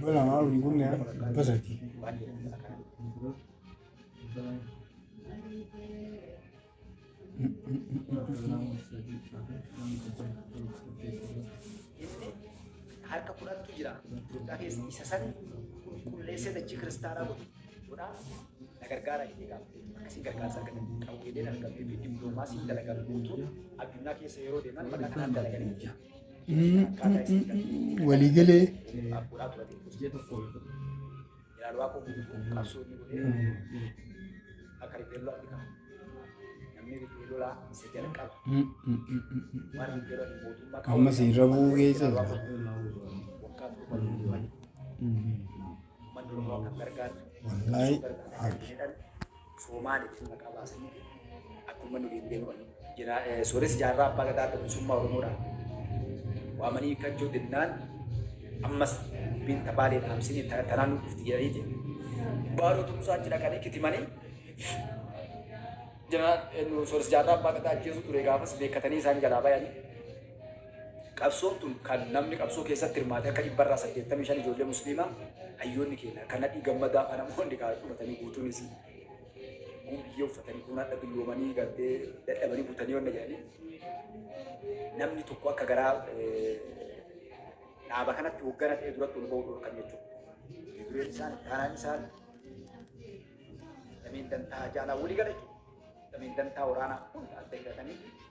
Bola malu ni kunya pesa ti. harka kudhantu jira Itoophiyaa keessa isa san qulqulleessee dachii kiristaanaa godhu godhaa na gargaara jedhee gaafate akkasiin gargaarsa argatan qabu jedhee na argamee fi dippiloomaasiin dalagan guutuun addunyaa keessa yeroo deeman maqaa kanaan dalaganii walii galee amma si irra bu'uu keessa wallaahi Soomaan itti maqaa baasanii akkuma nuyi hin beeknu jira. Sooressi jaarraa abbaa gadaa adda bilisummaa Oromoodhaan waamanii hiikkachuu dinnaan ammas dubbiin tabaalee dhaamsinii tanaan nu dhufti jedhaniiti. Baaroo tumsaa achi dhaqanii kitimanii sooressi jaarraa abbaa gadaa ajjeesuu ture gaafas beekatanii isaan jalaa bayanii. Qabsoon tun kan namni qabsoo keessatti hirmaate akka dhibba irraa saddeettamii shan ijoollee musliimaa hayyoonni keenya kan nadhii gammadaa kan namoonni kaa dhumatanii guutuun isii kun biyyee uffatanii kun hadha dulloomanii gartee dadhabanii butanii wanna jedhanii namni tokko akka garaa eh, dhaaba kanatti hoggana ta'e duratti ol ba'uu dhorkan jechuudha. Dureen isaan taanaan isaan dameen dantaa jaalaa walii gala jechuudha. Dameen dantaa waraanaa hunda adda hidhatanii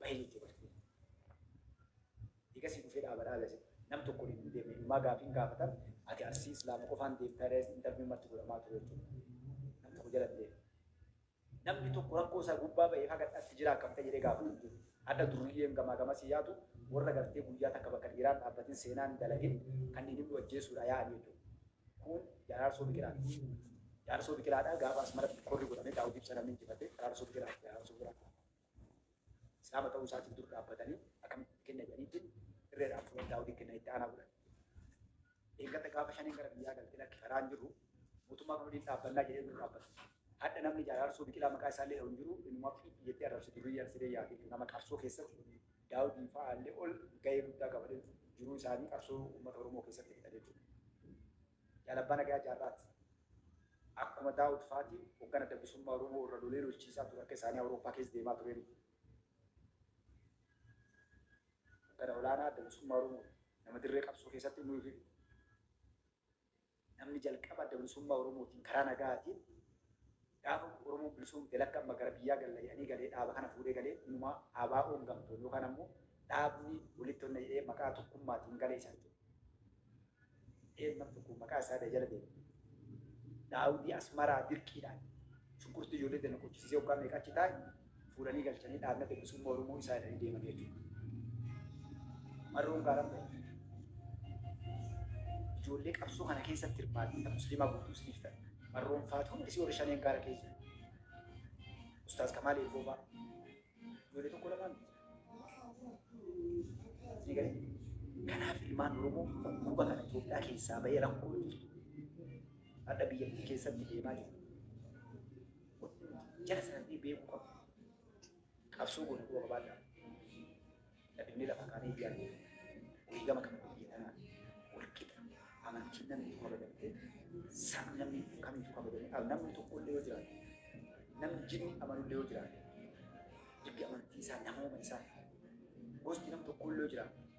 Bayee itti bartee. Egasii dhufee dhaabadhaa gase. Nam tokko waliin hin deemne. Inumaa gaafiin gaafatan ati arsii islaama qofaan deemtaa jedhee interviin marti godhamaa ture jechuudha. Nam tokko jala hin deemne. Namni tokko rakkoo isaa gubbaa ba'ee haga dhatti jiraa akkam ta'e jedhee gaafatu hin jiru. Hadha durriyyeen gamaa gamasii yaatu warra gartee guyyaa takka bakka dhiiraan dhaabbatin seenaan dalagin kan inni nu ajjeesuudha yaa'an jechuudha. Kun jaaraarsoo biqilaati. Jaaraarsoo biqilaadhaa gaafa asmaratti korri godhame daawwitiif sanamni injifate jaaraarsoo biqilaati jaaraarsoo biqilaati. Islaama ta'uu isaatiin dur dhaabbatanii akkamitti kenna jedhaniitti irreedhaan fuudhan daawwitiin kenna itti aanaa godhan. Eeggata gaafa shaniin gara biyyaa galte lakki karaan jirru mootummaa kan waliin dhaabbannaa jedhee dur dhaabbata. Hadha namni jaaraarsoo biqilaa maqaa isaa illee hin jiru inuma fiitti jettee arrabsi durii arsidee yaadee nama qabsoo keessatti daawwitiin fa'aa illee ol gahee guddaa qabatee jiruu isaanii qabsoo uummata Oromoo keessatti fixan jechuudha. Jaal Abbaa Nagayaa Jaarraat akkuma Daawud faati hoggan Adda Bilisummaa Oromoo irra lolee lolchiisaa ture akka isaanii Awurooppaa keessa deemaa turee miti. Hoggana olaanaa Adda Bilisummaa Oromoo nama dirree qabsoo keessatti inni ofii namni jalqaba Adda Bilisummaa Oromootiin karaa nagaatiin Gaafa Oromoon bilisoomte lakki amma gara biyyaa galla jedhanii galee dhaaba kana fuudhee galee inumaa ABOn gamtoon yookaan ammoo dhaabni walitti onna jedhee maqaa tokkummaatiin gale isa jechuudha. Dheen nam tokko maqaa isaa ta'e jala deema. Daawudii Asmaraa dirqiidhaan shunkurtii ijoollee tana qochisiisee waggaa meeqa achi taa'e fuudhanii galchanii dhaabna bilisumma oromoo isaa irra deeman jechuudha. Marroon gaara ijoollee qabsoo kana keessatti hirmaatan musliimaa guutuu isiniif ta'e marroon faatu hundi isii warri shaneen gaara keessa ustaaz kamaal eegoo fa'a ijoollee tokko lamaan ni gale. Kanaaf ilmaan oromoo dhukkuba kana Itoophiyaa keessaa bahee rakkoo adda biyyattii keessatti deemaa jiru. jara sanallee beekuu qabna. Qabsoo goone quba qabaadhaa. Dhabinnee lafa kaanee ijaarne wareegama kana biyya tanaa walqixa amantiin namni tokko kabajamtee sa'a namni kamiyyuu kabajamee al namni tokko illee yoo jiraate namni jinni amanu illee yoo jiraate dibbi amantii isaa namooma isaa gosti nam tokko illee yoo jiraate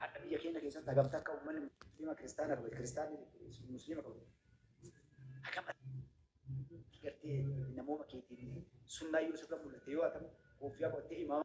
Hadha biyya keenya keessatti hagam takka ummanni muslima kiristaana qabu kiristaanni muslima qabu hagam gartee namooma keetiin sunnaa Yusuf kan mul'ate yoo hatamu kuuffiyaa qottee imaama